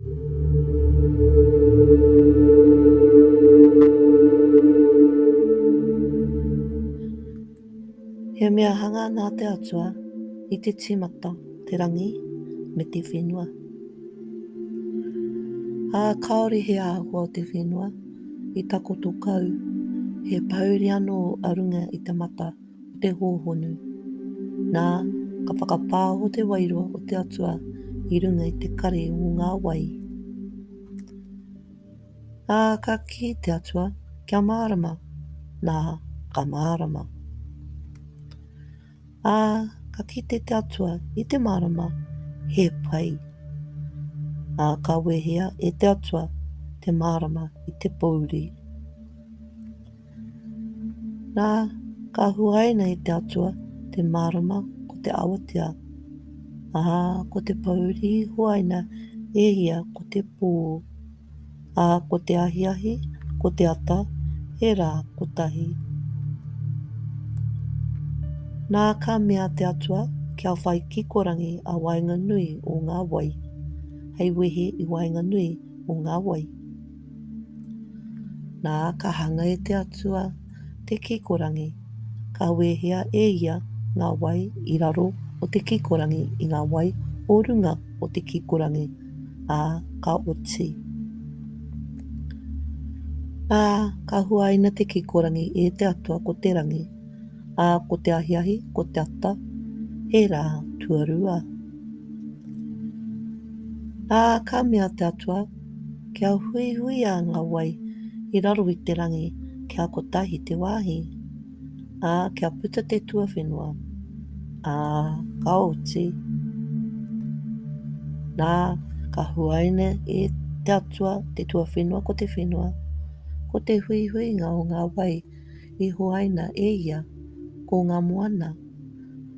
He mea hanga nā te Atua i te tīmata te rangi me te whenua. Ā, kāore he āhua o te whenua i takoto kau, he pouri anō a runga i te mata. te hōhonu. Nā, ka whakapāho te Wairua o te Atua i runga i te kare o ngā wai. Ā, ka kī te Atua, kia mārama, nā, ka mārama. Ā, ka kite te Atua i te mārama, he pai. Ā, ka wehea e te Atua te mārama i te pōuri. Nā, ka huaina e te Atua te mārama ko te awatea, ā, ko te pōuri i huaina e ia ko te pō, ā, ko te ahiahi, ko te ata, he rā kotahi. Nā, ka mea te Atua, kia whai kikorangi a waenganui o ngā wai, hei wehe i waenganui o ngā wai. Nā, ka hanga e te Atua te kikorangi, ka wehea e ia ngā wai i raro o te kikorangi i ngā wai o runga o te kikorangi, ā, ka oti. Ā, ka huaina te kikorangi e te Atua ko te rangi, ā, ko te ahiahi, ko te ata, he rā tuarua. Ā, ka mea te Atua, Kia huihuia ngā wai i raro i te rangi kia kotahi te wāhi, ā, kia puta te tuawhenua, ā, ka oti, nā, ka huaina e te Atua te tuawhenua ko te whenua, ko te huihuinga o ngā wai i huaina e ia, ko ngā moana,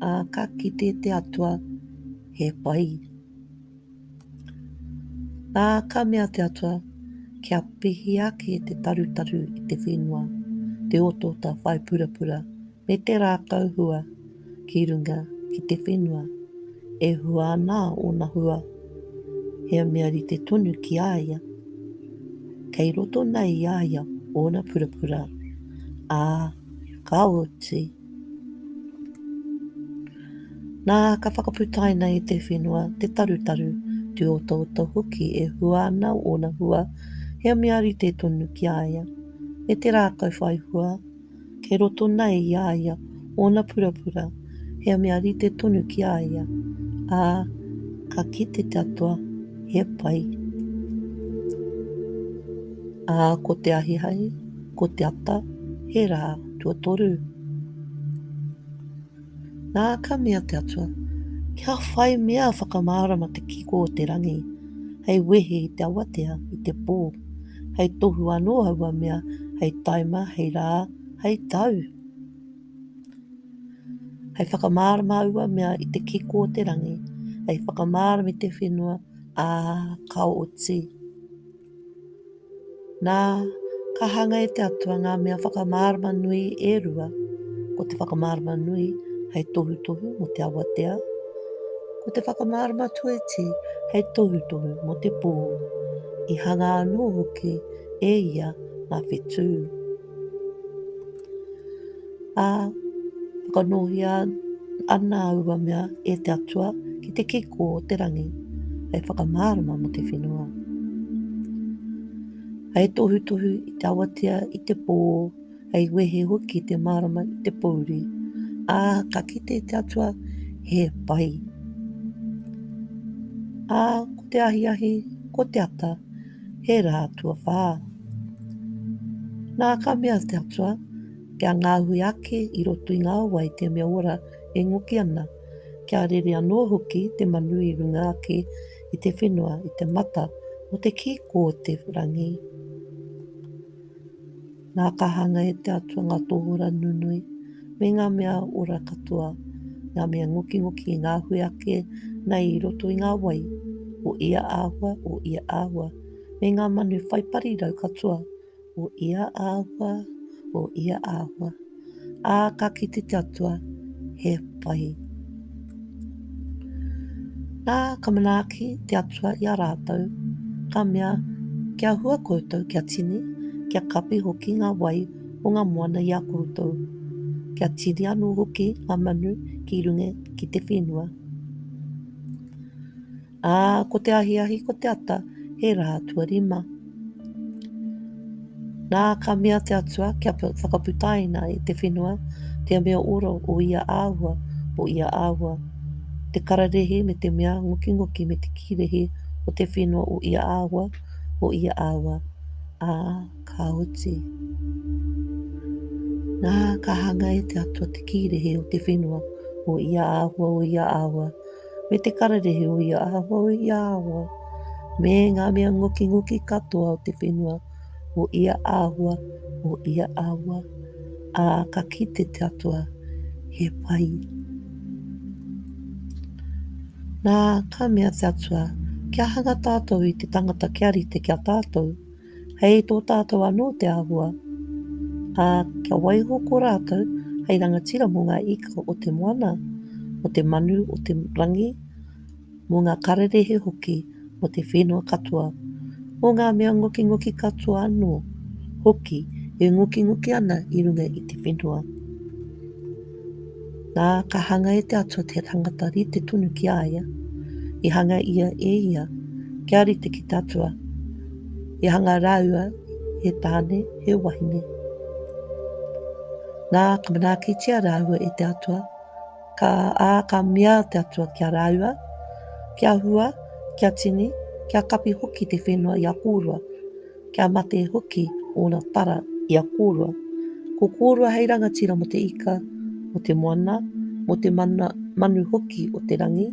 ā, ka kite te Atua he pai. Ā, ka mea te Atua, Kia pihi ake te tarutaru i te whenua, te otota whai purapura, me te rākau hua ki runga ki te whenua, e hua ana ōna hua, he mea rite tonu ki a ia, kei roto nei i a ia ōna purapura, ā, ka oti. Nā, ka whakaputaina i te whenua te tarutaru, te otooto hoki e hua ana ōna hua, he mea rite tonu ki a ia. Me te rākau whai hua, kei roto nei i a ia ōna purapura, he mea rite tonu ki a ia, ā, ka kite te Atua he pai. Ā, ko te ahiahi, Ko te ata, he rā, tuatoru. Nā, ka mea te Atua, kia whai mea whakamārama te kiko o te rangi, hei wehe i te awatea, i te pō, hei tohu anō aua mea, hei taima, hei rā, hei tau. Hei whakamārama aua mea i te kiko o te rangi, hei whakamārama i te whenua, ā, ka oti. Nā, ka hanga e te Atua ngā mea whakamārama nui e rua, ko te whakamārama nui hei tohutohu mō te awatea, ko te whakamārama tuiti hei tohutohu mō te pō, i hanga anō hoki e ia ngā whetū. Ā, whakanōhia ana aua mea e te Atua ki te kiko o te rangi, hei whakamārama mō te whenua. Hei tohutohu i te awatea i te pō, hei wehe hoki te mārama i te pōuri, ā, ka kite te Atua he pai. Ā, ko te ahiahi, ko te ata, he rā tuawhā. Nā ka mea te Atua, kia ngāhui ake i roto i ngā wai te mea ora e ngoki ana, kia rere anō hoki te manu i runga ake i te whenua i te mata o te kīkō o te rangi. Ngā kāhanga e te Atua ngā tōhura nunui, me ngā mea ora katoa, ngā mea ngokingoki i ngā hui ake nei i roto i ngā wai, o ia āhua, o ia āhua, me ngā manu whai parirau katoa, o ia āhua, o ia āhua. ā, ka kite te Atua, he pai. Nā, ka manaaki te Atua i a rātou, ka mea, kia hua koutou, kia tini, kia kapi hoki ngā wai o ngā moana i a koutou, kia tini anō hoki ngā manu ki runga ki te whenua. Ā, ko te ahiahi, ko te ata, he rā tuarima. Nā, ka mea te Atua, kia whakaputaina e te whenua, te mea oro o ia āhua, o ia āhua, te kararehe me te mea ngokingoki me te kīrehe o te whenua o ia āhua, o ia āhua, ā, ka oti. Nā, ka hanga e te Atua te kīrehe o te whenua o ia āhua, o ia āhua, me te kararehe o ia aho i a awa, me ngā mea ngokingoki katoa o te whenua o ia āhua, o ia awa, ā, ka kite te atua, he pai. Nā, ka mea te atua, kia hanga tātou i te tangata kia rite kia tātou, Hei tō tātou anō te āhua, ā, kia waiho ko rātou hei rangatira mō ngā ika o te moana, mō te manu o te rangi, mō ngā kararehe hoki, mō te whenua katoa, mō ngā mea ngokingoki katoa anō hoki e ngokingoki ana i runga i te whenua. Na, ka hanga e te Atua te tangata rite tonu ki a ia, i hanga ia e ia, kia rite ki te Atua, i hanga raua he tāne, he wahine. Na, ka manaakitia raua e te Atua, ka a ka mea te Atua ki a raua, kia hua, kia tini, kia kapi hoki te whenua i a kōrua. Kia mate hoki ōna tara i a kōrua. Ko kōrua hei rangatira mo te ika, mo te moana, mo te mana, manu hoki o te rangi,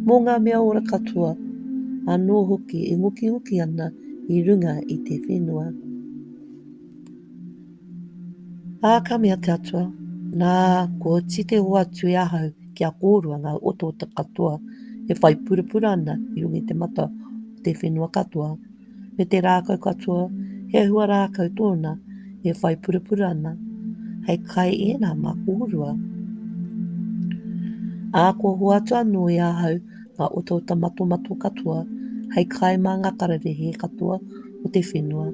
mo ngā mea ora katoa, anō hoki e ngokingoki ana i runga i te whenua. Ā, ka mea te Atua, nā, kua tite o atu e ahau ki a kōrua ngā otaota katoa e whai purapura ana i runga i te mata o te whenua katoa, me te rākau katoa, he ahua rākau tōna e whai purapura ana, hei kai ēnā mā kōrua. Ā, kua hoatu anō i ahau ngā otaota matomato katoa, hei kai mā ngā kararehe katoa o te whenua,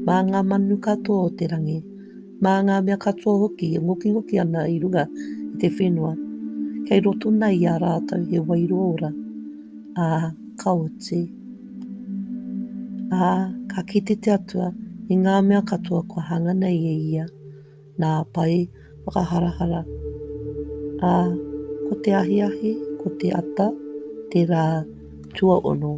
mā ngā manu katoa o te rangi, Mā ngā mea katoa hoki e ngokingoki ana i runga i te whenua, kei roto nei i a rātou he wairua ora, ā, ka oti. Ā, ka kite te Atua i ngā mea katoa kua hanga nei e ia, nā Pai whakaharahara. Ā, ko te ahiahi, ko te ata, te rā tuaono.